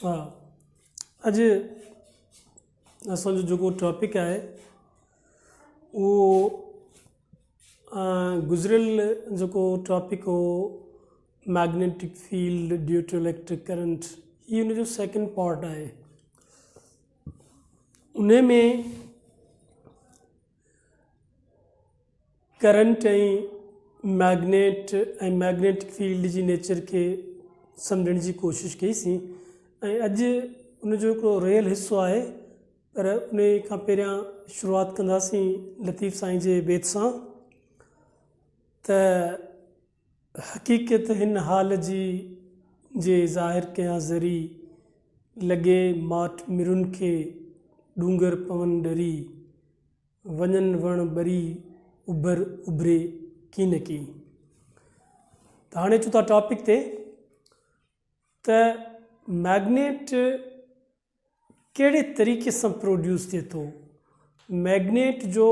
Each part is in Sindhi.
ها اڄ اسان جو جيڪو ٽاپڪ آهي اهو گذريل جيڪو ٽاپڪ هو magnetic field due to electric current هي ان جو سيڪنڊ پارٽ آهي ان ۾ ڪرنٽ ۽ مئگنيٽ ۽ مئگنيٽڪ فيلڊ جي نيچر کي سمجهڻ جي ڪوشش ڪئي سين ۽ اڄ ان جو هڪڙو ريل حصو آهي پر ان کان پهريان شروعات ڪنداسين لطيف سائين جي بيت سان ته حقيقيت هن حال جي جي ظاهر ڪيان ذري، لڳي ماٺ مرون کي، ڏونگر پون ڏري، وڃن وڻ ٻري، اڀر اڀري ڪين ڪين. ته هاڻي اچون ٿا ٽاپڪ تي ته مئگنيٽ ڪهڙي طريقي سان پروڊيوس ٿئي ٿو. مئگنيٽ جو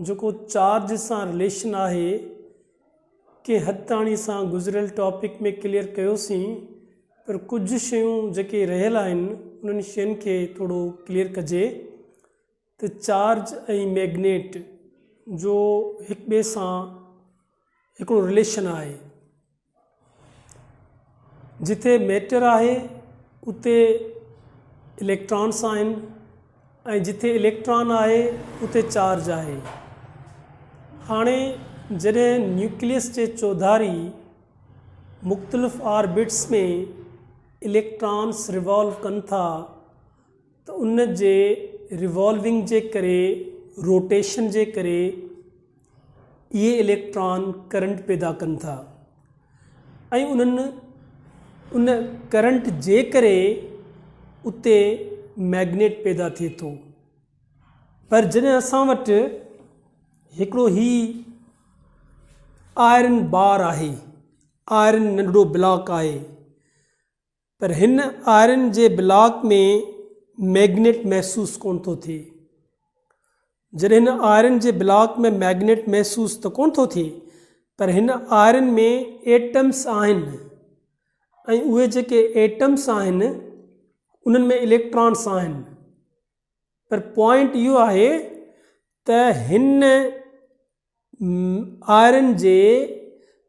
جيڪو چارج سان رليشن آهي ڪنهن حد تائين اسان گذريل ٽاپڪ ۾ ڪليئر ڪيوسين پر ڪجهه شيون جيڪي رهيل آهن انهن شين کي ٿورو ڪليئر ڪجي ته چارج ۽ مئگنيٽ جو هڪ ٻئي سان هڪڙو رليشن آهي جتي ميٽر آهي اتي اليڪٽرانس آهن ۽ جتي اليڪٽران آهي اتي چارج آهي هاڻي جڏهن نيوڪليس جي چوڌاري مختلف آربٽس ۾ اليڪٽرانس ريوالو ڪن ٿا ته ان جي ريوالونگ جي ڪري روٽيشن جي ڪري اهي اليڪٽران ڪرنٽ پيدا ڪن ٿا ۽ ان ڪرنٽ جي ڪري اتي مئگنيٽ پيدا ٿئي ٿو پر جڏهن اسان وٽ هڪڙو هي آئرن بار آهي آئرن ننڍڙو بلاڪ آهي پر هن آئرن جي بلاڪ ۾ مئگنيٽ محسوس ڪونه ٿو ٿئي. جڏهن هن آئرن جي بلاڪ ۾ مئگنيٽ محسوس ته ڪونه ٿو ٿئي پر هن آئرن ۾ ايٽمس آهن ۽ اهي جيڪي ايٽمس آهن انهن ۾ اليڪٽرانس آهن پر پوائنٽ اهو آهي ته هن آئرن جي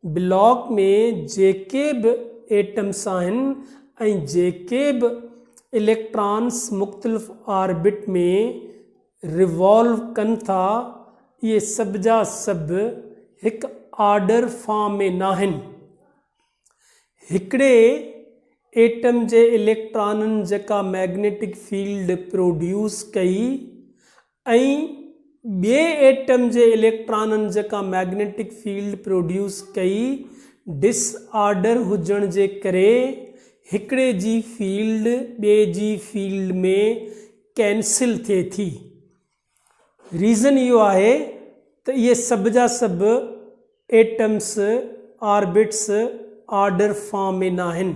بلاڪ ۾ جيڪي به ايٽمس آهن ۽ جيڪي به اليڪٽرانس مختلف آربٽ ۾ ريوالو ڪن ٿا اهي سڀ جا سڀ هڪ آرڊر فارم ۾ ناهن هڪڙي ايٽم جي اليڪٽرانن جيڪا مئگنيٽڪ فيلڊ پروڊيوس ڪئي ۽ ٻئي ايٽم جي اليڪٽرانن جيڪا مئگنيٽڪ فيلڊ پروڊيوس ڪئي، ڊس آرڊر هجڻ جي ڪري هڪڙي جي فيلڊ ٻئي جي فيلڊ ۾ ڪينسل ٿئي ٿي. ريزن اهو آهي ته اهي سڀ جا سڀ ايٽمس آربٽس آرڊر فارم ۾ ناهن.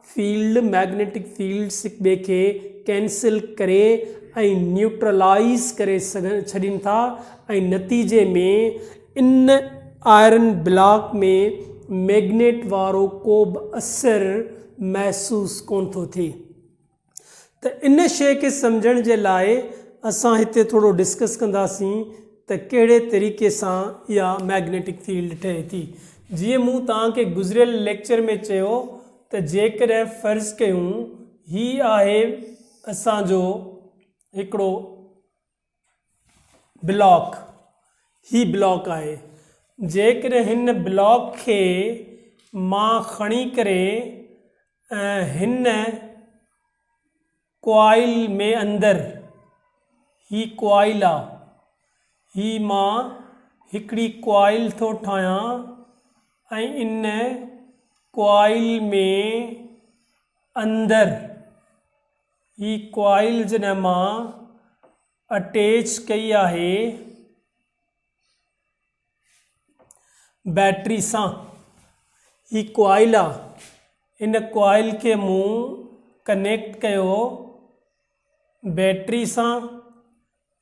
فيلڊ، Magnetic Fields، هڪ ٻئي کي ڪينسل ڪري ۽ نيوٽرلائيز ڪري ڇڏين ٿا ۽ نتيجي ۾ ان آئرن بلاڪ ۾ مئگنيٽ وارو ڪوبه اثر محسوس ڪونه ٿو ٿئي ته ان شيء کي سمجهڻ جي لاء اسان هتي ٿورو ڊسڪس ڪنداسين ته ڪهڙي طريقي سان اها مئگنيٽڪ فيلڊ ٺهي ٿي. جيئن مون توهان کي گذريل ليڪچر ۾ چيو ته جيڪڏهن فرض ڪيون هي آهي اسان جو هڪڙو بلاڪ، هي بلاڪ آهي، جيڪڏهن هن بلاڪ کي مان کڻي ڪري هن ڪوائل ۾ اندر، هي ڪوائل آ، هي مان هڪڙي ڪوائل ٿو ٺاهيان ۽ ان ڪوائل ۾ اندر هي ڪوائل جڏهن مان اٽيچ ڪئي آهي بيٽري سان هي ڪوائل آ ان ڪوائل کي مون ڪنيڪٽ ڪيو بيٽري سان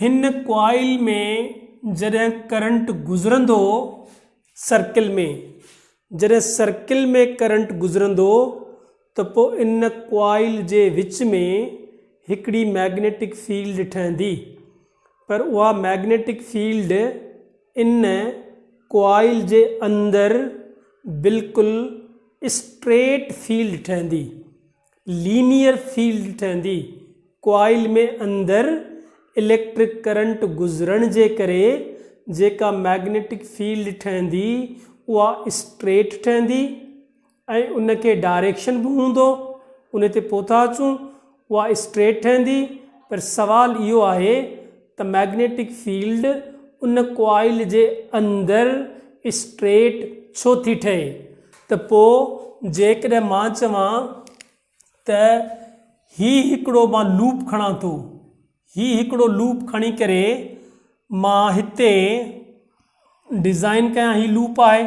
هن ڪوائل ۾ جڏهن ڪرنٽ گذرندو سرڪل ۾ جڏهن سرڪل ۾ ڪرنٽ گذرندو ته پوء ان ڪوائل جي وچ ۾ هڪڙي مئگنيٽڪ فيلڊ ٺهندي پر اها مئگنيٽڪ فيلڊ ان ڪوائل جي اندر بلڪل اسٽريٽ فيلڊ ٺهندي لينيئر فيلڊ ٺهندي. ڪوائل ۾ اندر اليڪٽرڪ ڪرنٽ گذرڻ جي ڪري جيڪا مئگنيٽڪ فيلڊ ٺهندي اها اسٽريٽ ٺهندي ۽ ان کي ڊائريڪشن به هوندو ان تي پوء ٿا اچون اها اسٽريٽ ٺهندي پر سوال اهو آهي ته مئگنيٽڪ فيلڊ ان ڪوائل جي اندر اسٽريٽ ڇو ٿي ٺهي ته پوء جيڪڏهن مان چوان ته هي هڪڙو مان لوپ کڻان ٿو هي هڪڙو لوپ کڻي ڪري مان هتي ڊزائن ڪيان هي لوپ آهي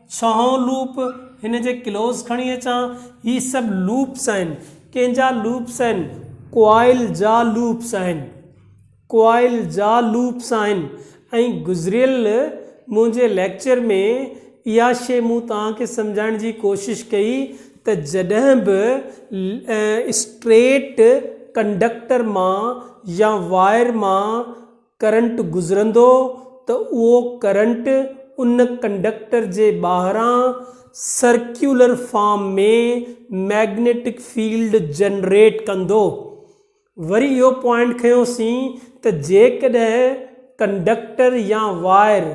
ڇهون لوپ، هن جي ڪلوز کڻي اچان، هي سڀ لوپس آهن. ڪنهن جا لوپس آهن؟ ڪوائل جا لوپس آهن. ڪوائل جا لوپس آهن ۽ گذريل منهنجي ليڪچر ۾ اها شيء مون توهان کي سمجهائڻ جي ڪوشش ڪئي ته جڏهن به اسٽريٽ ڪنڊڪٽر مان يا وائر مان ڪرنٽ گذرندو ته اهو ڪرنٽ ان ڪنڊڪٽر جي ٻاهران circular form ۾ magnetic field generate ڪندو. وري اهو پوائنٽ کنيوسين ته جيڪڏهن ڪنڊڪٽر يا وائر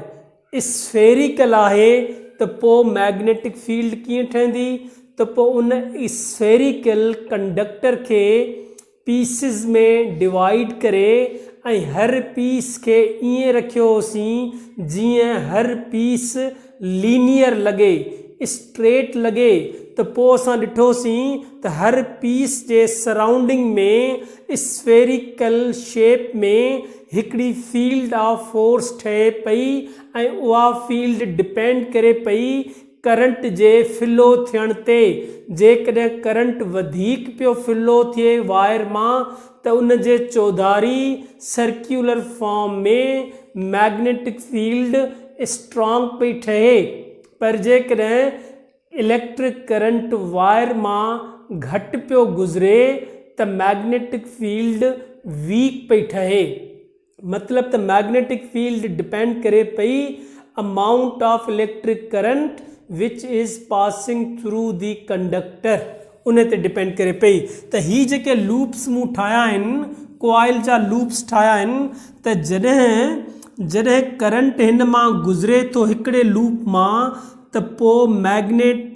اسفيريڪل آهي ته پوء مئگنيٽڪ فيلڊ ڪيئن ٺهندي ته پوء ان اسفيريڪل ڪنڊڪٽر کي پيسز ۾ ڊوائيڊ ڪري ۽ هر پيس کي ائين رکيو هوسين جيئن هر پيس لينيئر لڳي، اسٽريٽ لڳي ته پوء اسان ڏٺوسين ته هر پيس جي سرائونڊنگ ۾ اسفيريڪل شيپ ۾ هڪڙي فيلڊ آف فورس ٺهي پئي ۽ اها فيلڊ ڊپينڊ ڪري پئي ڪرنٽ جي فلو ٿيڻ تي، جيڪڏهن ڪرنٽ وڌيڪ پيو فلو ٿئي وائر مان ته ان جي چوڌاري circular form ۾ magnetic field strong پئي ٺهي پر جيڪڏهن اليڪٽرڪ ڪرنٽ وائر مان گهٽ پيو گذري ته مئگنيٽڪ فيلڊ ويڪ پئي ٺهي. مطلب ته مئگنيٽڪ فيلڊ ڊپينڊ ڪري پئي amount of electric current which is passing through the conductor ان تي ڊپينڊ ڪري پئي ته هي جيڪي لوپس مون ٺاهيا آهن ڪوائل جا لوپس ٺاهيا آهن ته جڏهن جڏهن ڪرنٽ هن مان گذري ٿو هڪڙي لوپ مان ته پوء مئگنيٽ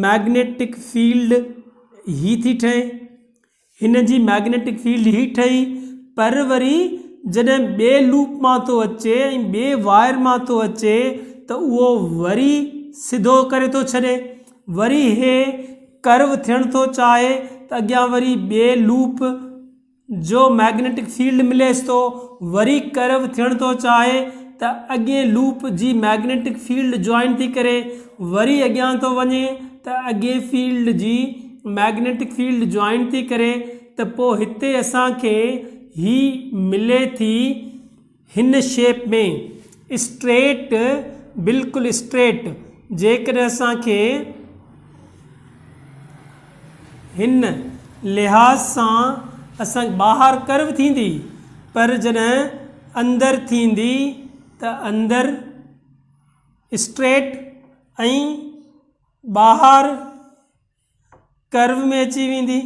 مئگنيٽڪ فيلڊ هي ٿي ٺهي هن جي مئگنيٽڪ فيلڊ هي ٺهي پر وري جڏهن ٻي لوپ مان ٿو اچي ۽ ٻي وائر مان ٿو اچي ته اهو وري سڌو ڪري ٿو ڇڏي وري هي ڪرو ٿيڻ ٿو چاهي ته اڳيان وري ٻي لوپ جو مئگنيٽڪ فيلڊ مليس ٿو وري ڪرو ٿيڻ ٿو چاهي ته اڳئين لوپ جي مئگنيٽڪ فيلڊ جوائن ٿي ڪري وري اڳيان ٿو وڃي ته اڳئي فيلڊ جي مئگنيٽڪ فيلڊ جوائن ٿي ڪري ته پوء هتي اسان کي هي ملي ٿي هن شيپ ۾ اسٽريٽ بلڪل اسٽريٽ جيڪڏهن اسان کي هن لحاظ سان اسان کي ٻاهر ڪرو ٿيندي پر جڏهن اندر ٿيندي ته اندر اسٽريٽ ۽ ٻاهر ڪرو ۾ اچي ويندي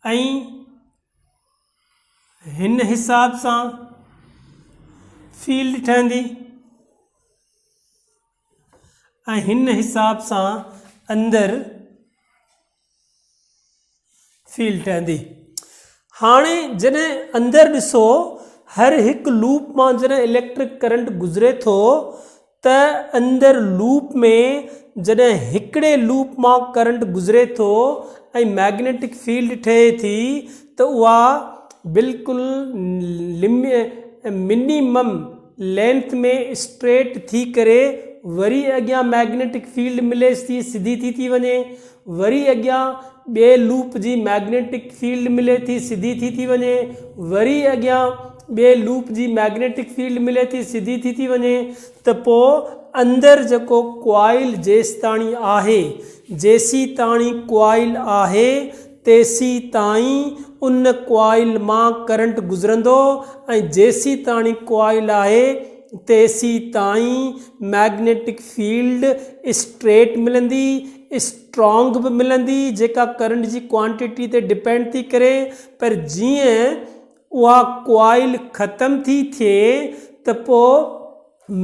۽ هن حساب سان فيلڊ ٺهندي ۽ هن حساب سان اندر فيل ٺهندي. هاڻي جڏهن اندر ڏسو هر هڪ لوپ مان جڏهن اليڪٽرڪ ڪرنٽ گذري ٿو ته اندر لوپ ۾ جڏهن هڪڙي لوپ مان ڪرنٽ گذري ٿو ۽ مئگنيٽڪ فيلڊ ٺهي ٿي ته اها بلڪل منيمم لينٿ ۾ اسٽريٽ ٿي ڪري وري اڳيان مئگنيٽڪ فيلڊ مليس ٿي سڌي ٿي ٿي وڃي وري اڳيان ٻئي لوپ جي مئگنيٽڪ فيلڊ ملي ٿي سڌي ٿي ٿي وڃي وري اڳيان ٻئي لوپ جي مئگنيٽڪ فيلڊ ملي ٿي سڌي ٿي ٿي وڃي ته پوء اندر جيڪو ڪوائل جيستاڻي آهي جيسيتاڻي ڪوائل آهي تيسيتائين ان ڪوائل مان ڪرنٽ گذرندو ۽ جيسيتاڻي ڪوائل آهي تيسيتائين مئگنيٽڪ فيلڊ اسٽريٽ ملندي، اسٽرانگ به ملندي جيڪا ڪرنٽ جي ڪوانٽيٽي تي ڊپينڊ ٿي ڪري پر جيئن اها ڪوائل ختم ٿي ٿئي ته پوء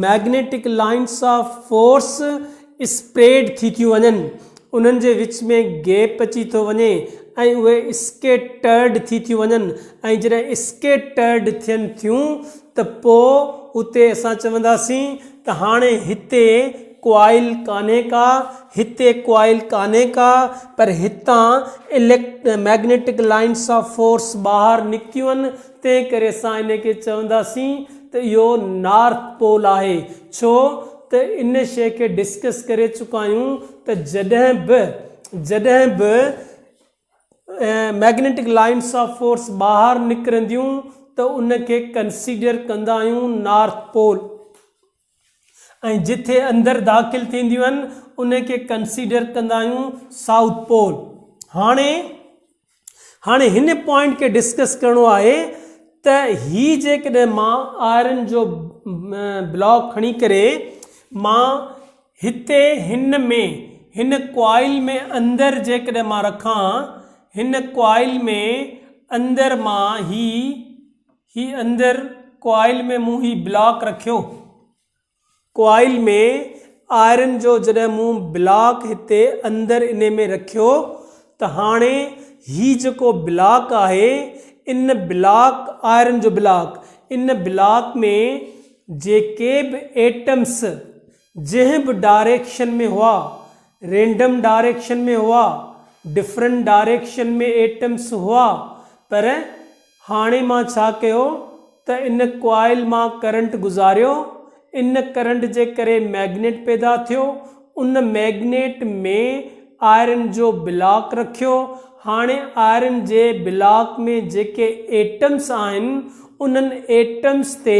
magnetic lines of force spread ٿي ٿيون وڃن انهن جي وچ ۾ گيپ اچي ٿو وڃي ۽ اهي اسڪيٽرڊ ٿي ٿيون وڃن ۽ جڏهن اسڪيٽرڊ ٿين ٿيون ته پوء اتي اسان چونداسين ته هاڻي هتي ڪوائل ڪانهي ڪا هتي ڪوائل ڪانهي ڪا پر هتان اليڪ مئگنيٽڪ لائنس آف فورس ٻاهر نڪتيون آهن تنهن ڪري اسان ان کي چونداسين ته اهو نارٿ پول آهي ڇو ته ان شيء کي ڊسڪس ڪري چڪا آهيون ته جڏهن به جڏهن به مئگنيٽڪ لائنس آف فورس ٻاهر نڪرنديون ته ان کي ڪنسيڊر ڪندا آهيون نارٿ پول. ۽ جتي اندر داخل ٿينديون آهن ان کي ڪنسيڊر ڪندا آهيون سائوٿ پول هاڻي هاڻي هن پوائنٽ کي ڊسڪس ڪرڻو آهي ته هي جيڪڏهن مان آئرن جو بلاڪ کڻي ڪري مان هتي هن ۾ هن ڪوائل ۾ اندر جيڪڏهن مان رکان هن ڪوائل ۾ اندر مان هي هي اندر ڪوائل ۾ مون هي بلاڪ رکيو. ڪوائل ۾ آئرن جو جڏهن مون بلاڪ هتي اندر انهي ۾ رکيو ته هاڻي هي جيڪو بلاڪ آهي ان بلاڪ آئرن جو بلاڪ ان بلاڪ ۾ جيڪي به ايٽمس جنهن به ڊائريڪشن ۾ هئا رينڊم ڊائريڪشن ۾ هئا ڊفرنٽ ڊائريڪشن ۾ ايٽمس هئا پر هاڻي مان ڇا ڪيو ته ان ڪوائل مان ڪرنٽ گذاريو، ان ڪرنٽ جي ڪري ميگنيٽ پيدا ٿيو، ان ميگنيٽ ۾ آئرن جو بلاڪ رکيو، هاڻي آئرن جي بلاڪ ۾ جيڪي ايٽمس آهن انهن ايٽمس تي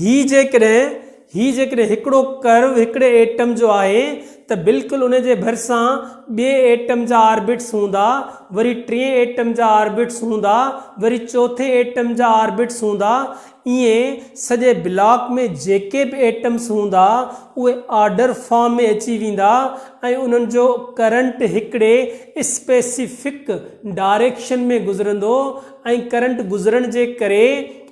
هي جيڪڏهن هي جيڪڏهن هڪڙو ڪرو هڪڙي ايٽم جو آهي ته بلڪل ان جي ڀرسان ٻئي ايٽم جا آربٽس هوندا وري ٽئين ايٽم جا آربٽس هوندا وري چوٿين ايٽم جا آربٽس هوندا ائين سڄي بلاڪ ۾ جيڪي به ايٽمس هوندا اهي آرڊر فارم ۾ اچي ويندا ۽ انهن جو ڪرنٽ هڪڙي اسپيسفڪ ڊاريڪشن ۾ گذرندو ۽ ڪرنٽ گذرڻ جي ڪري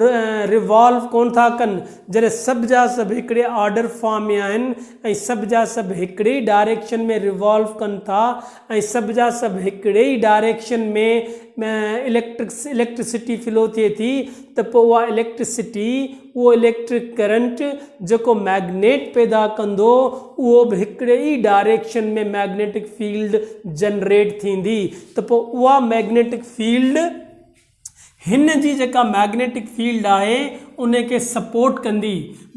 ريوالو ڪونه ٿا ڪن، جڏهن سڀ جا سڀ هڪڙي آرڊر فارم ۾ آهن ۽ سڀ جا سڀ هڪڙي ئي ڊائريڪشن ۾ ريوالو ڪن ٿا ۽ سڀ جا سڀ هڪڙي ئي ڊائريڪشن ۾ اليڪٽرڪسٽي فلو ٿئي ٿي ته پوء اها اليڪٽرڪسٽي اهو اليڪٽرڪ ڪرنٽ جيڪو مئگنيٽ پيدا ڪندو اهو به هڪڙي ئي ڊائريڪشن ۾ مئگنيٽڪ فيلڊ جنريٽ ٿيندي ته پوء اها مئگنيٽڪ فيلڊ هن جي جيڪا مئگنيٽڪ فيلڊ آهي ان کي سپورٽ ڪندي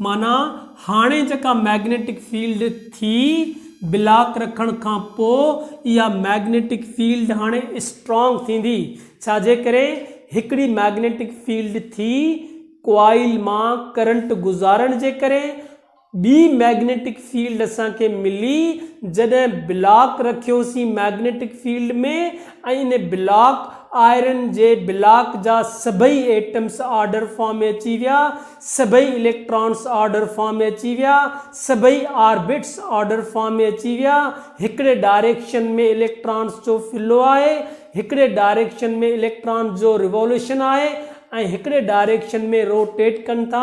معنيٰ هاڻي جيڪا مئگنيٽڪ فيلڊ ٿي بلاڪ رکڻ کان پوء اها مئگنيٽڪ فيلڊ هاڻي اسٽرانگ ٿيندي ڇاجي ڪري هڪڙي مئگنيٽڪ فيلڊ ٿي ڪوائل مان ڪرنٽ گذارڻ جي ڪري ٻي مئگنيٽڪ فيلڊ اسان کي ملي جڏهن بلاڪ رکيوسين مئگنيٽڪ فيلڊ ۾ ۽ ان بلاڪ آئرن جي بلاڪ جا سڀئي ايٽمس آرڊر فارم ۾ اچي ويا سڀئي اليڪٽرانس آرڊر فارم ۾ اچي ويا سڀئي آربٽس آرڊر فارم ۾ اچي ويا هڪڙي ڊائريڪشن ۾ اليڪٽرانس جو فلو آهي هڪڙي ڊائريڪشن ۾ اليڪٽرانس جو ريواليوشن آهي ۽ هڪڙي ڊائريڪشن ۾ روٽيٽ ڪن ٿا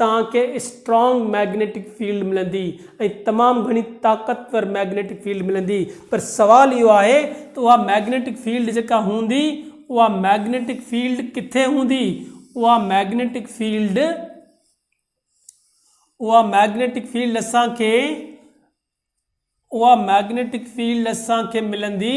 توهان کي اسٽرانگ ميگنيٽڪ فيلڊ ملندي ۽ تمام گهڻي طاقتور ميگنيٽڪ فيلڊ ملندي پر سوال اهو آهي ته اها ميگنيٽڪ فيلڊ جيڪا هوندي اها ميگنيٽڪ فيلڊ ڪٿي هوندي اها ميگنيٽڪ فيلڊ اها ميگنيٽڪ فيلڊ اسان کي اها ميگنيٽڪ فيلڊ اسان کي ملندي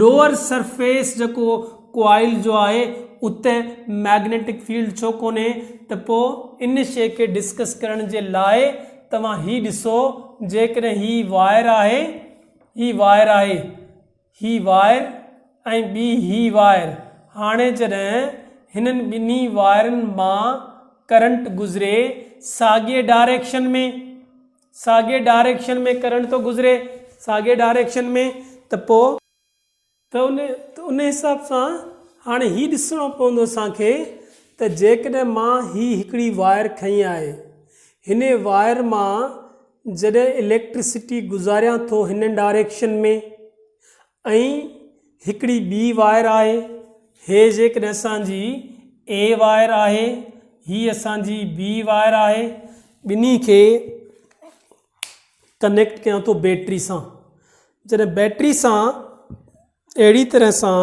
لوئر سرفيس جيڪو ڪوائل جو آهي اتي ميگنيٽڪ فيلڊ ڇو ڪونهي ته پوء ان شيء کي ڊسڪس ڪرڻ جي لاء توهان هي ڏسو جيڪڏهن هي وائر آهي هي وائر آهي هي وائر ۽ ٻي هي وائر هاڻي جڏهن هنن ٻنهي وائرن مان ڪرنٽ گذري ساڳئي ڊائريڪشن ۾. ساڳي ڊائريڪشن ۾ ڪرنٽ ٿو گذري ساڳي ڊائريڪشن ۾ ته پوء. ته ان ته ان حساب سان هاڻي هي ڏسڻو پوندو اسان کي ته جيڪڏهن مان هي هڪڙي وائر کنئي آهي هن وائر مان جڏهن اليڪٽرسٽي گذاريان ٿو هن ڊائريڪشن ۾ ۽ هڪڙي ٻي وائر آهي هي جيڪڏهن اسان جي A وائر آهي هي اسان جي B وائر آهي ٻنهي کي ڪنيڪٽ ڪيان ٿو بيٽري سان جڏهن بيٽري سان اهڙي طرح سان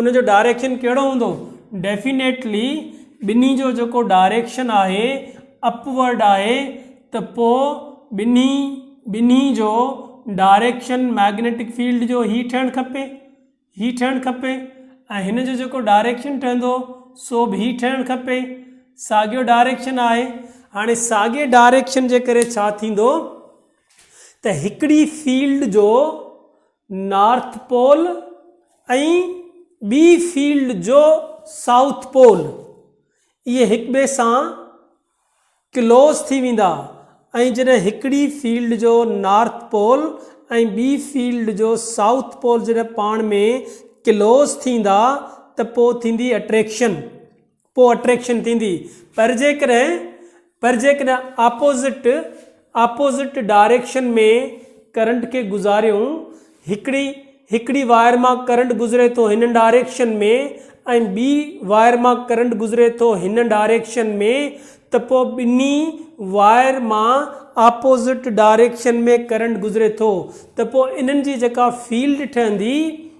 ان جو ڊائريڪشن ڪهڙو هوندو؟ ڊيفينيٽلي ٻنهي جو جيڪو ڊائريڪشن آهي اپ ورڊ آهي ته پوء ٻنهي ٻنهي جو ڊائريڪشن مئگنيٽڪ فيلڊ جو هي ٺهڻ کپي هي ٺهڻ کپي ۽ هن جو جيڪو ڊائريڪشن ٺهندو سو به هي ٺهڻ کپي ساڳيو ڊائريڪشن آهي هاڻي ساڳي ڊائريڪشن جي ڪري ڇا ٿيندو ته هڪڙي فيلڊ جو نارٿ پول ۽ ٻي فيلڊ جو سائوٿ پول، اهي هڪٻئي سان ڪلوز ٿي ويندا ۽ جڏهن هڪڙي فيلڊ جو نارٿ پول ۽ ٻي فيلڊ جو سائوٿ پول جڏهن پاڻ ۾ ڪلوز ٿيندا ته پوء ٿيندي اٽريڪشن پوء اٽريڪشن ٿيندي پر جيڪڏهن پر جيڪڏهن آپوزٽ آپوزٽ ڊائريڪشن ۾ ڪرنٽ کي گذاريون هڪڙي هڪڙي وائر مان ڪرنٽ گذري ٿو هن ڊائريڪشن ۾ ۽ ٻي وائر مان ڪرنٽ گذري ٿو هن ڊائريڪشن ۾ ته پوء ٻنهي وائر مان آپوزٽ ڊائريڪشن ۾ ڪرنٽ گذري ٿو ته پوء انهن جي جيڪا فيلڊ ٺهندي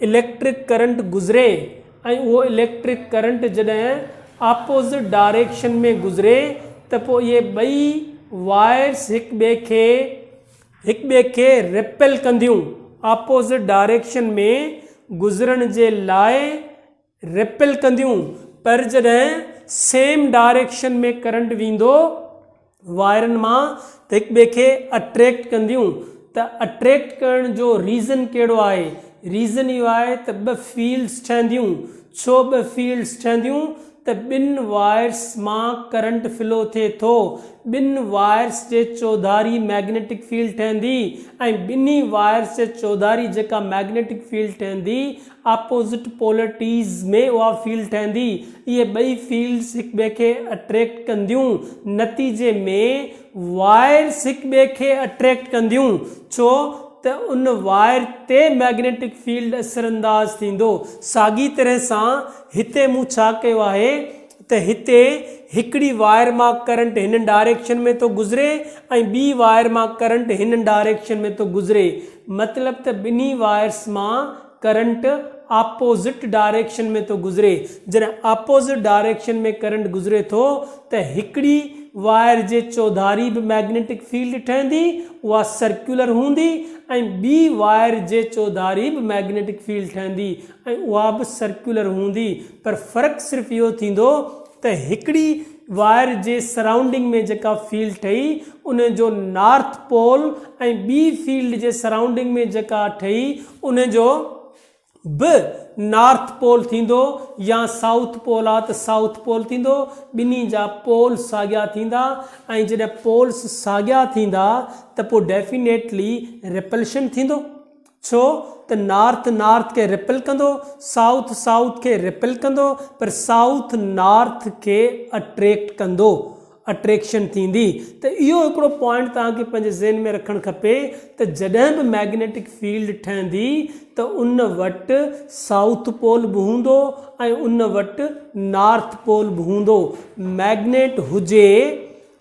اليڪٽرڪ ڪرنٽ گذري ۽ اهو اليڪٽرڪ ڪرنٽ جڏهن اپوزٽ ڊائريڪشن ۾ گذري ته پوء اهي ٻئي وائرس هڪ ٻئي کي هڪ ٻئي کي ريپيل ڪنديون اپوزٽ ڊائريڪشن ۾ گذرڻ جي لاء ريپيل ڪنديون پر جڏهن سيم ڊائريڪشن ۾ ڪرنٽ ويندو وائرن مان ته هڪ ٻئي کي اٽريڪٽ ڪنديون ته اٽريڪٽ ڪرڻ جو ريزن ڪهڙو آهي ريزن اهو آهي ته ٻه فيلڊس ٺهنديون ڇو ٻه فيلڊس ٺهنديون ته ٻن وائرس مان ڪرنٽ فلو ٿئي ٿو ٻن وائرس جي چوڌاري ميگنيٽڪ فيلڊ ٺهندي ۽ ٻنهي وائرس جي چوڌاري جيڪا ميگنيٽڪ فيلڊ ٺهندي اپوزٽ پولر ٽيز ۾ اها فيلڊ ٺهندي. اهي ٻئي فيلڊز هڪٻئي کي اٽريڪٽ ڪنديون. نتيجي ۾ وائرس هڪٻئي کي اٽريڪٽ ڪنديون ڇو ته ان وائر تي مئگنيٽڪ فيلڊ اثرانداز ٿيندو. ساڳي طرح سان هتي مون ڇا ڪيو آهي. ته هتي هڪڙي وائر مان ڪرنٽ هن ڊائريڪشن ۾ ٿو گذري ۽ ٻي وائر مان ڪرنٽ هن ڊائريڪشن ۾ ٿو گذري مطلب ته ٻنهي وائرس مان ڪرنٽ آپوزٽ ڊائريڪشن ۾ ٿو گذري جڏهن آپوزٽ ڊائريڪشن ۾ ڪرنٽ گذري ٿو ته هڪڙي وائر جي چوڌاري به مئگنيٽڪ فيلڊ ٺهندي اها سرڪيولر هوندي ۽ ٻي وائر جي چوڌاري به مئگنيٽڪ فيلڊ ٺهندي ۽ اها به سرڪيولر هوندي پر فرق صرف اهو ٿيندو ته هڪڙي وائر جي سرائونڊنگ ۾ جيڪا فيلڊ ٺهي ان جو نارٿ پول ۽ ٻي فيلڊ جي سرائونڊنگ ۾ جيڪا ٺهي ان جو به نارٿ پول ٿيندو يا سائوٿ پول آ ته سائوٿ پول ٿيندو ٻنهي جا پول ساڳيا ٿيندا ۽ جڏهن پولس ساڳيا ٿيندا ته پوء ڊيفينيٽلي ريپلشن ٿيندو. ڇو ته نارٿ نارٿ کي ريپل ڪندو، سائوٿ سائوٿ کي ريپل ڪندو پر سائوٿ نارٿ کي اٽريڪٽ ڪندو، اٽريڪشن ٿيندي ته اهو هڪڙو پوائنٽ توهان کي پنهنجي ذهن ۾ رکڻ کپي ته جڏهن به مئگنيٽڪ فيلڊ ٺهندي ته ان وٽ سائوٿ پول به هوندو ۽ ان وٽ نارٿ پول به هوندو، مئگنيٽ هجي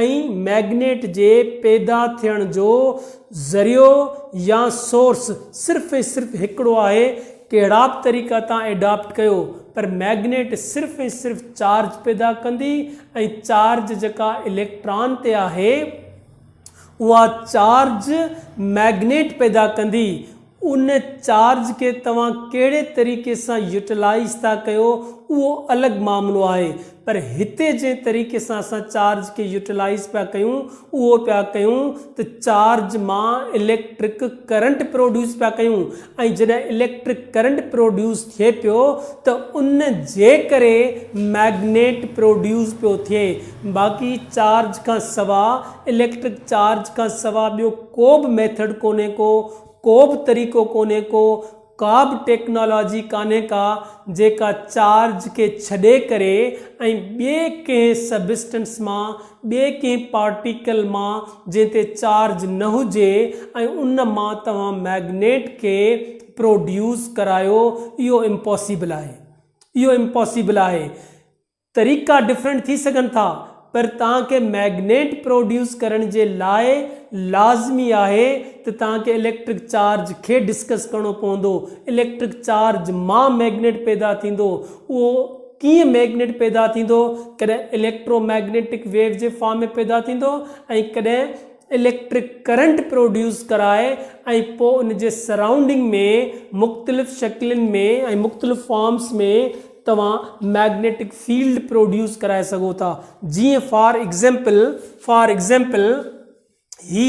۽ مئگنيٽ جي پيدا ٿيڻ جو ذريعو يا سورس صرف ۽ صرف هڪڙو آهي، ڪهڙا به طريقا تان ايڊاپٽ ڪيو پر مئگنيٽ صرف ۽ صرف چارج پيدا ڪندي ۽ چارج جيڪا اليڪٽران تي آهي اها چارج مئگنيٽ پيدا ڪندي، ان چارج کي توهان ڪهڙي طريقي سان يوٽيلائيز ٿا ڪيو اهو الڳ معاملو آهي پر هتي جنهن طريقي سان اسان چارج کي يوٽيلائيز پيا ڪيون اهو پيا ڪيون ته چارج مان اليڪٽرڪ ڪرنٽ پروڊيوس پيا ڪيون ۽ جڏهن اليڪٽرڪ ڪرنٽ پروڊيوس ٿئي پيو ته ان جي ڪري مئگنيٽ پروڊيوس پيو ٿئي باقي چارج کان سوا اليڪٽرڪ چارج کان سوا ٻيو ڪو به ميٿڊ ڪونهي ڪو ڪوبه طريقو ڪونهي ڪو ڪابه ٽيڪنالاجي ڪانهي ڪا جيڪا چارج کي ڇڏي ڪري ۽ ٻئي ڪنهن سبسٽنس مان ٻئي ڪنهن پارٽيڪل مان جنهن تي چارج نه هجي ۽ ان مان توهان مئگنيٽ کي پروڊيوس ڪرايو اهو امپاسيبل آهي اهو امپاسيبل آهي. طريقا ڊفرنٽ ٿي سگهن ٿا پر توهان کي مئگنيٽ پروڊيوس ڪرڻ جي لاء لازمي آهي ته توهان کي اليڪٽرڪ چارج کي ڊسڪس ڪرڻو پوندو اليڪٽرڪ چارج مان مئگنيٽ پيدا ٿيندو اهو ڪيئن مئگنيٽ پيدا ٿيندو ڪڏهن اليڪٽرو مئگنيٽڪ ويو جي فارم ۾ پيدا ٿيندو ۽ ڪڏهن اليڪٽرڪ ڪرنٽ پروڊيوس ڪرائي ۽ پوء ان جي سرائونڊنگ ۾ مختلف شڪلين ۾ ۽ مختلف فارمس ۾ توهان مئگنيٽڪ فيلڊ پروڊيوس ڪرائي سگهو ٿا جيئن فار ايگزيمپل فار ايگزيمپل هي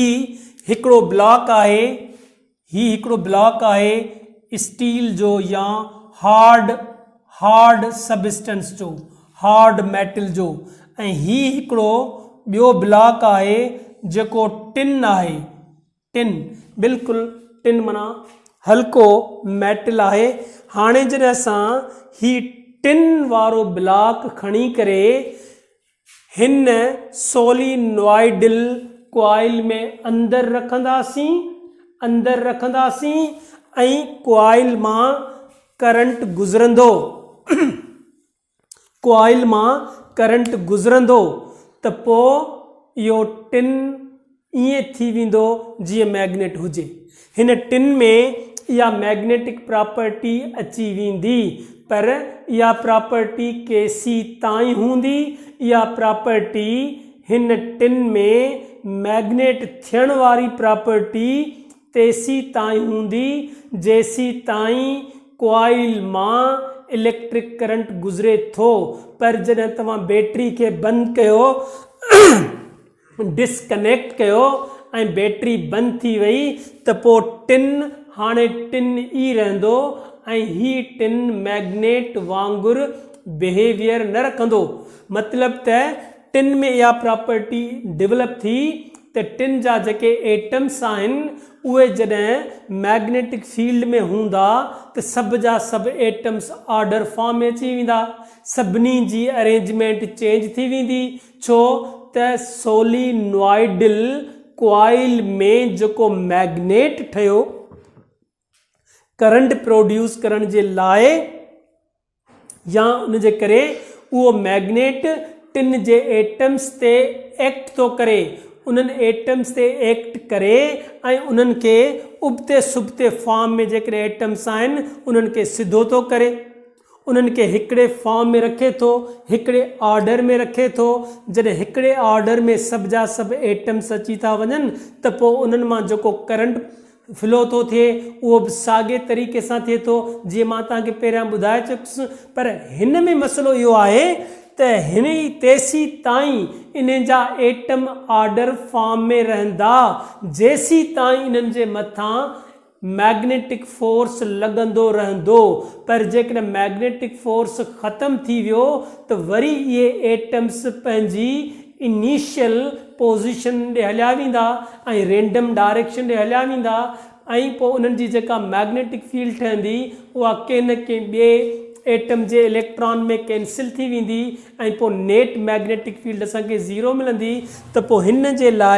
هڪڙو بلاڪ آهي هي هڪڙو بلاڪ آهي اسٽيل جو يا هارڊ هارڊ سبسٽنس جو هارڊ ميٽل جو ۽ هي هڪڙو ٻيو بلاڪ آهي جيڪو ٽن آهي ٽن، بلڪل ٽن معنيٰ هلڪو ميٽل آهي. هاڻي جڏهن اسان هي ٽن وارو بلاڪ کڻي ڪري هن سولي نوائيڊل ڪوائل ۾ اندر رکنداسين اندر رکنداسين ۽ ڪوائل مان ڪرنٽ گذرندو. ڪوائل مان ڪرنٽ گذرندو ته پوء اهو ٽن ائين ٿي ويندو جيئن مئگنيٽ هجي. هن ٽن ۾ اها مئگنيٽڪ پراپرٽي اچي ويندي پر اها پراپرٽي ڪيسي تائين هوندي؟ اها پراپرٽي هن ٽن ۾ مئگنيٽ ٿيڻ واري پراپرٽي تيسيتائين هوندي جيسيتائين ڪوائل مان اليڪٽرڪ ڪرنٽ گذري ٿو پر جڏهن توهان بيٽري کي بند ڪيو ڊس ڪنيڪٽ ڪيو ۽ بيٽري بند ٿي وئي ته پوء ٽن هاڻي ٽن ئي رهندو ۽ هي ٽن مئگنيٽ وانگر بيهيويئر نه رکندو مطلب ته ٽن ۾ اها پراپرٽي ڊولپ ٿي ته ٽن جا جيڪي ايٽمس آهن اهي جڏهن مئگنيٽڪ فيلڊ ۾ هوندا ته سڀ جا سڀ ايٽمس آرڊر فارم ۾ اچي ويندا سڀني جي ارينجمينٽ چينج ٿي ويندي ڇو ته سولينوائيڊل ڪوائل ۾ جيڪو مئگنيٽ ٺهيو ڪرنٽ پروڊيوس ڪرڻ جي لاء يا ان جي ڪري اهو مئگنيٽ ٽن جي ايٽمس تي ايڪٽ ٿو ڪري، انهن ايٽمس تي ايڪٽ ڪري ۽ انهن کي ابتي سبتي فارم ۾ جيڪڏهن ايٽمس آهن انهن کي سڌو ٿو ڪري. انهن کي هڪڙي فارم ۾ رکي ٿو، هڪڙي آرڊر ۾ رکي ٿو. جڏهن هڪڙي آرڊر ۾ سڀ جا سڀ ايٽمس اچي ٿا وڃن ته پوء انهن مان جيڪو ڪرنٽ فلو ٿو ٿئي اهو به ساڳئي طريقي سان ٿئي ٿو جيئن مان توهان کي پهريان ٻڌائي چڪس پر هن ۾ مسئلو اهو آهي ته هن ئي تيسيتائين انهن جا ايٽم آرڊر فارم ۾ رهندا جيسيتائين انهن جي مٿان مئگنيٽڪ فورس لڳندو رهندو پر جيڪڏهن مئگنيٽڪ فورس ختم ٿي ويو ته وري اهي ايٽمز پنهنجي انيشل پوزيشن ڏي هليا ويندا ۽ رينڊم ڊائريڪشن ڏي هليا ويندا ۽ پوء انهن جي جيڪا مئگنيٽڪ فيلڊ ٺهندي اها ڪنهن نه ڪنهن ٻئي ايٽم جي اليڪٽران ۾ ڪينسل ٿي ويندي ۽ پوء نيٽ مئگنيٽڪ فيلڊ اسان کي زيرو ملندي ته پوء هن جي لاء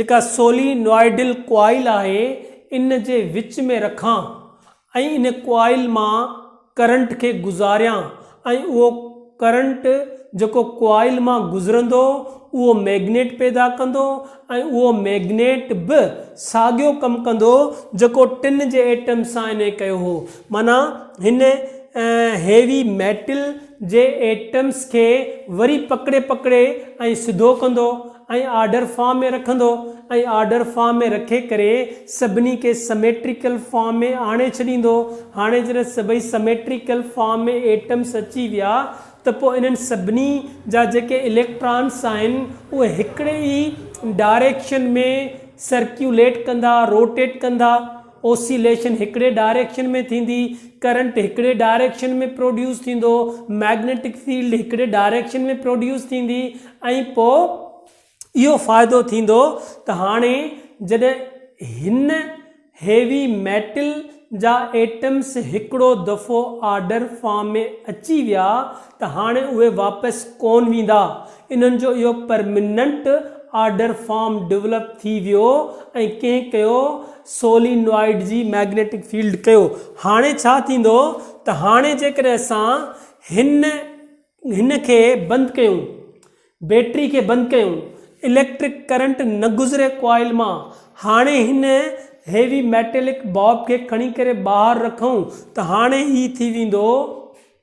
جيڪا سولي نوائيڊل ڪوائل آهي ان جي وچ ۾ رکان ۽ ان ڪوائل مان ڪرنٽ کي گذاريان ۽ اهو ڪرنٽ جيڪو ڪوائل مان گذرندو اهو ميگنيٽ پيدا ڪندو ۽ اهو ميگنيٽ به ساڳيو ڪم ڪندو جيڪو ٽن جي ايٽم سان انهي ڪيو هو معنيٰ هن هيوي ميٽل جي ايٽمس کي وري پڪڙي پڪڙي ۽ سڌو ڪندو ۽ آرڊر فارم ۾ رکندو ۽ آرڊر فارم ۾ رکي ڪري سڀني کي سميٽريڪل فارم ۾ آڻي ڇڏيندو. هاڻي جڏهن سڀئي سميٽريڪل فارم ۾ ايٽمس اچي ويا ته پوء انهن سڀني جا جيڪي اليڪٽرانس آهن اهي هڪڙي ئي ڊائريڪشن ۾ سرڪيوليٽ ڪندا، روٽيٽ ڪندا. اوسيليشن هڪڙي ڊائريڪشن ۾ ٿيندي، ڪرنٽ هڪڙي ڊائريڪشن ۾ پروڊيوس ٿيندو، مئگنيٽڪ فيلڊ هڪڙي ڊائريڪشن ۾ پروڊيوس ٿيندي ۽ پوء اهو فائدو ٿيندو ته هاڻي جڏهن هن هيوي ميٽل جا ايٽمس هڪڙو دفعو آرڊر فارم ۾ اچي ويا ته هاڻي اهي واپس ڪون ويندا، انهن جو اهو پرمننٽ آرڊر فارم ڊولپ ٿي ويو ۽ ڪنهن ڪيو سولينوائيڊ جي مئگنيٽڪ فيلڊ ڪيو، هاڻي ڇا ٿيندو ته هاڻي جيڪڏهن اسان هن هن کي بند ڪيون، بيٽري کي بند ڪيون، اليڪٽرڪ ڪرنٽ نه گذري ڪوائل مان، هاڻي هن هيوي ميٽلڪ باب کي کڻي ڪري ٻاهر رکون ته هاڻي هي ٿي ويندو،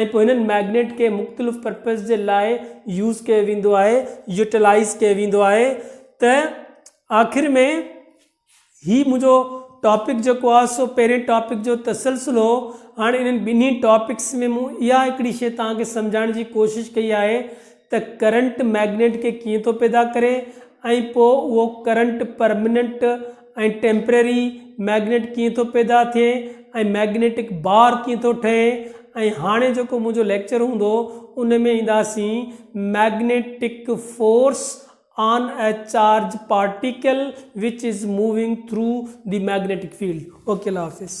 ۽ پوء هنن مئگنيٽ کي مختلف پرپز جي لاء يوز ڪيو ويندو آهي يوٽيلائز ڪيو ويندو آهي ته آخر ۾ هي منهنجو ٽاپڪ جيڪو آهي سو پهرين ٽاپڪ جو تسلسل هو هاڻي انهن ٻنهي ٽاپڪس ۾ مون اها هڪڙي شيء توهان کي سمجهائڻ جي ڪوشش ڪئي آهي ته ڪرنٽ مئگنيٽ کي ڪيئن ٿو پيدا ڪري ۽ پوء اهو ڪرنٽ پرمننٽ ۽ ٽيمپرري مئگنيٽ ڪيئن ٿو پيدا ٿئي ۽ مئگنيٽڪ بار ڪيئن ٿو ٺهي ۽ هاڻي جيڪو منهنجو ليڪچر هوندو ان ۾ اينداسين magnetic force on a charge particle which is moving through the magnetic field okay الله حافظ.